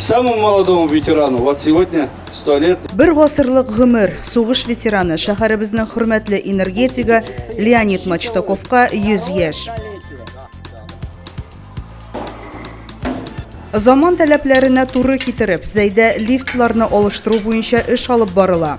Самому молодому ветерану вот сегодня 100 лет. Бер гасырлык гомер сугыш ветераны шәһәребезнең хөрмәтле энергетига Леонид Мачтаковка 100 яшь. Заман таләпләренә туры китереп, Зәйдә лифтларны алыштыру буенча эш алып барыла.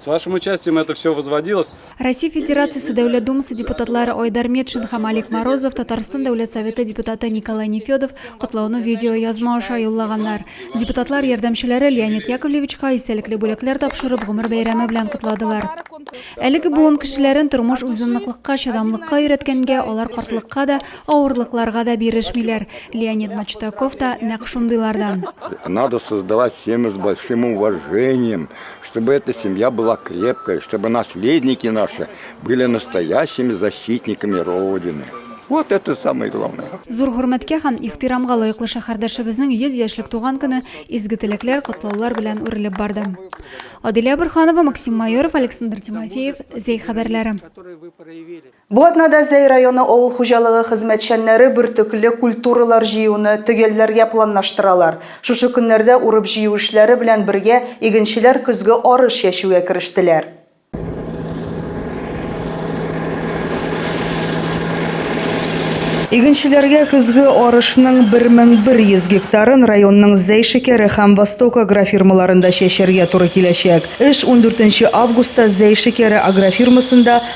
С вашим участием это все возводилось. Россия Федерациясе Дәүләт Думасы депутатлары Айдар Метшин һәм Алик Морозов, Татарстан Дәүләт Советы депутаты Николай Нефедов котлауны видеоязма аша юллаганнар. Депутатлар ярдәмчеләре Леонид Яковлевичка истәлекле бүләкләр тапшырып, гомер бәйрәме белән котладылар. Әлеге буын кешеләрен тормыш үзынлыклыкка, чыдамлыкка өйрәткәнгә, алар картлыкка да, авырлыкларга да бирешмиләр. Леонид Мачтаков та нәкъ шундыйлардан. Надо создавать семьи с большим уважением. Чтобы эта семья была крепкой, чтобы наследники наши были настоящими защитниками Родины. Вот это самое главное. Зур хөрмәткә һәм ихтирамга лаеклы шәһәрдәшебезнең 100 яшьлек туган көне изге теләкләр, котлаулар белән үрелеп барды. Адилә Бурханова, Максим Майоров, Александр Тимофеев, Зәй хәбәрләре. Бу атнада Зәй районы авыл хуҗалыгы хезмәтчәннәре бөртекле культуралар җыюны төгәлләргә планлаштыралар. Шушы көннәрдә урып-җыю эшләре белән бергә игенчеләр көзге арыш чәчүгә керештеләр. Игенчеләргә көзге арышның 1100 гектарын районның Зәй шикәре һәм Восток агрофирмаларында чәчәргә туры киләчәк. Эш 14 нче августта Зәй шикәре агрофирмасында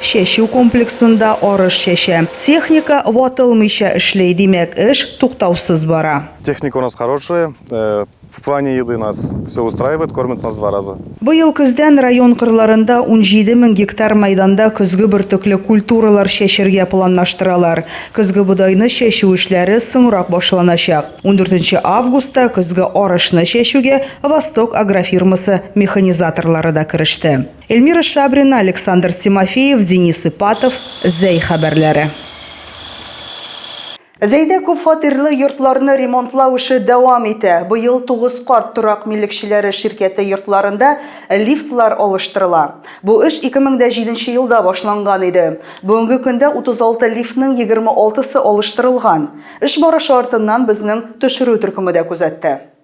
Чәчү комплексында арыш чәчә. Техника ватылмыйча эшли, димәк, эш туктаусыз бара. Техника у нас хорошая, в плане еды нас все устраивает, кормят нас два раза. Быел көздән район кырларында унҗиде мең гектар мәйданда көзге бөртекле культуралар чәчергә планлаштыралар. Көзге бодайны чәчү эшләре соңрак башланачак. Ундүртенче августта көзге арышны чәчүгә Восток агрофирмасы механизаторлары да кереште. Эльмира Шабрина, Александр Тимофеев, Денис Ипатов, Зәй хәбәрләре. Зәйдә күпфатирлы йортларны ремонтлау эше дәвам итә. Быел Тугыз карт торак милекчеләре ширкәте йортларында лифтлар алыштырыла. Бу эш 2007 елда башланган иде. Бүгенге көндә 36 лифтның 26 сы алыштырылган. Эш барышы артыннан безнең төшерү төркеме дә күзәтте.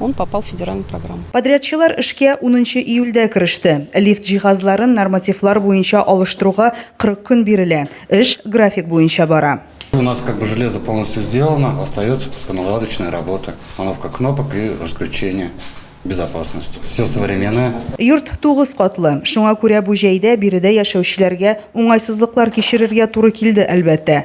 Он попал в федеральную программу. Подрядчылар эшкә унынчы июльдә кереште. Лифт җиһазларын нормативлар буенча алыштыруга 40 көн бирелә. Эш график буенча бара. У нас как бы железо полностью сделано, остается просто наладочная работа, установка кнопок и разключение безопасности. Все современное. Йорт тугыз катлы, шуңа күрә бу җәйдә биредә яшәүчеләргә уңайсызлыклар кичерергә туры килде, әлбәттә.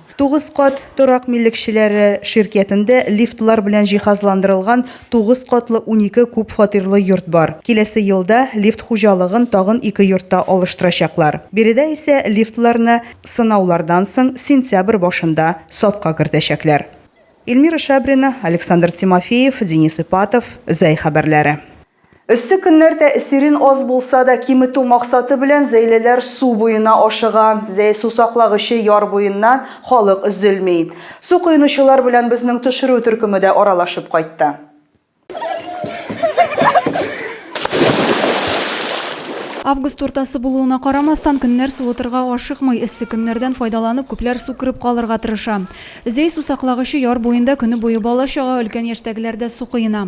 Тугыз кат торак милекчеләре ширкятендә лифтлар белән җиһазландырылган тугыз катлы унике күп фатирлы йорт бар. Киләсе елда лифт хуҗалыгын тагын ике йортта алыштырачаклар. Биредә исә лифтларны сынаулардан соң сентябрь башында сафка кертәчәкләр. Эльмира Шабрина, Александр Тимофеев, Денис Ипатов, Зәй хәбәрләре. Эссе көннәр тәэсирен аз булса да киметү максаты белән зәйлеләр су буена ашыга. Зәй сусаклагычы яр буеннан халык өзелми. Су коенучылар белән безнең төшерү төркеме дә аралашып кайтты. Август уртасы булуына карамастан, көннәр суытырга ашыкмый. Эссе көннәрдән файдаланып, күпләр су кереп калырга тырыша. Зәй сусаклагычы яр буенда көне буе бала-чага, өлкән яшьтәгеләр дә су коена.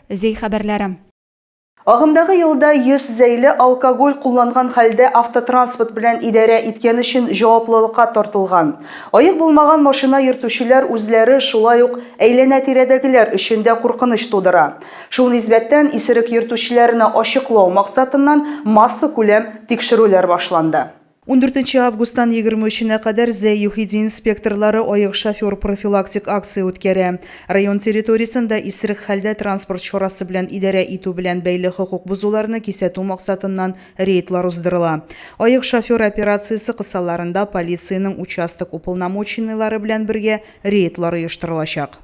Зәй хәбәрләре. Агымдагы елда 100 зәйле алкоголь кулланган хәлдә автотранспорт белән идарә иткән өчен җаваплылыкка тартылган. Аек булмаган машина йөртүчеләр үзләре, шулай ук әйләнә-тирәдәгеләр өчен дә куркыныч тудыра. Шул нисбәттән, исерек йөртүчеләрне ачыклау максатыннан массакүләм тикшерүләр башланды. Ундүртенче августтан егерме өченә кадәр Зәй ЮХИДИ инспекторлары аек шофер профилактик акция үткәрә. Район территориясен дә исерек хәлдә транспорт чарасы белән идарә итү белән бәйле хокук бозуларны кисәтү максатыннан рейдлар уздырыла. Аек шофер операциясе кысаларында полициянең участок уполномоченныйлары белән бергә рейдлар оештырылачак.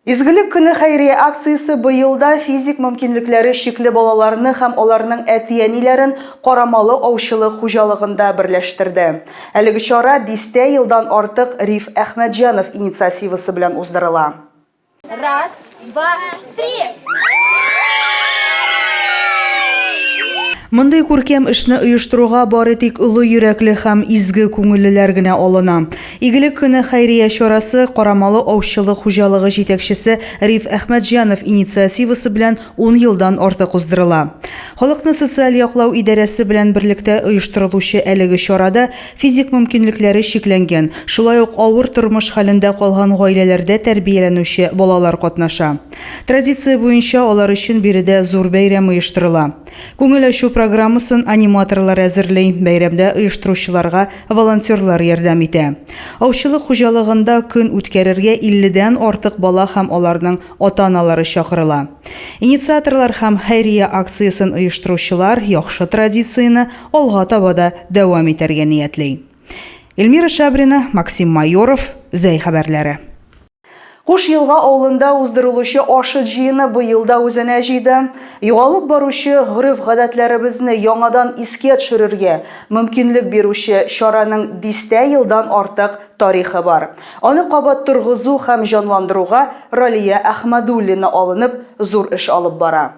Изгелек көне хәйрия акциясе быел да физик мөмкинлекләре чикле балаларны һәм аларның әти-әниләрен Карамалы аучылык хуҗалыгында берләштерде. Әлеге чара дистә елдан артык Риф Әхмәтҗанов инициативасы белән уздырыла. Раз, два, три! Мондый күркәм эшне оештыруга бары тик олы йөрәкле һәм изге күңеллеләр генә алына. Игелек көне хәйрия чарасы Карамалы аучылык хуҗалыгы җитәкчесе Риф Әхмәтҗанов инициативасы белән ун елдан артык уздырыла. Халыкны социаль яклау идарәсе белән берлектә оештырылучы әлеге чарада физик мөмкинлекләре чикләнгән, шулай ук авыр тормыш хәлендә калган гаиләләрдә тәрбияләнүче балалар катнаша. Традиция буенча алар өчен биредә зур бәйрәм оештырыла. Күңел ачу программасын аниматорлар әзерли, бәйрәмдә оештыручыларга волонтерлар ярдәм итә. Аучылык хуҗалыгында көн үткәрергә 50 дән артык бала һәм аларның ата-аналары чакырыла. Инициаторлар һәм хәйрия акциясен оештыручылар яхшы традицияне алга таба да дәвам итәргә ниятли. Эльмира Шабрина, Максим Майоров, Зәй хәбәрләре. Куш Елга авылында уздырылучы Ашыт җыены быел да үзенә җыйды. Югалып баручы гореф-гадәтләребезне яңадан искә төшерергә мөмкинлек бирүче чараның дистә елдан артык тарихы бар. Аны кабат торгызу һәм җанландыруга Ралия Әхмәдуллина алынып, зур эш алып бара.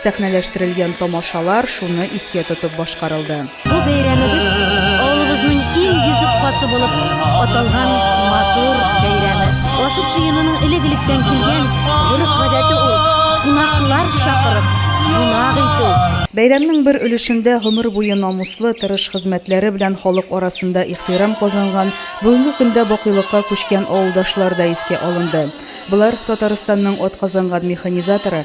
Сәхнәләштерелгән тамашалар шуны искә тотып башкарылды. Бу бәйрәмебез авылыбызның ил йөзек кашы булып аталган матур бәйрәме. Ашыт җыенының элек-электән килгән гореф-гадәте ул, кунаклар чакырып, кунак итү. Бәйрәмнең бер өлешендә гомер буе намуслы, тырыш хезмәтләре белән халык арасында ихтирам казанган, бүгенге көндә бакыйлыкка күчкән авылдашлар да искә алынды. Болар, Татарстанның атказанган механизаторы,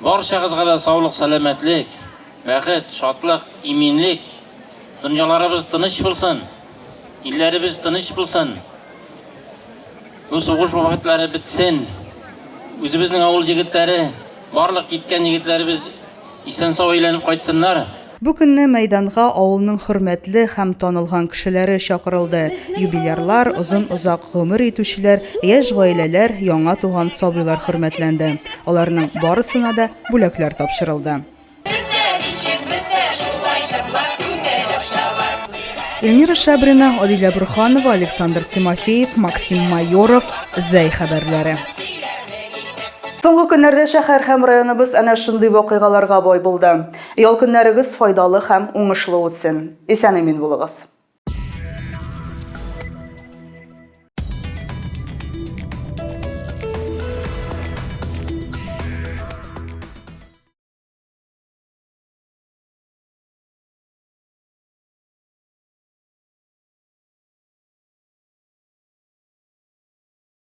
Барчагызга да саулык, сәламәтлек, бәхет, шатлык, иминлек, дөньяларыбыз тыныч булсын, илләребез тыныч булсын, бу сугыш вакытлары бетсен, үзебезнең авыл егетләре, барлык киткән егетләребез исән-сау әйләнеп кайтсыннар. Бу көнне мәйданга авылның хөрмәтле һәм танылган кешеләре чакырылды, юбилярлар, озын-озак гомер итүчеләр, яшь гаиләләр, яңа туган сабыйлар хөрмәтләнде. Аларның барысына да бүләкләр тапшырылды. Эльмира Шабрина, Адилә Борханова, Александр Тимофеев, Максим Майоров, Зәй хәбәрләре. Соңгы көннәрдә шәһәр һәм районыбыз әнә шундый вакыйгаларга бай булды. Ял көннәрегез файдалы һәм уңышлы үтсен! Исән-имин булыгыз!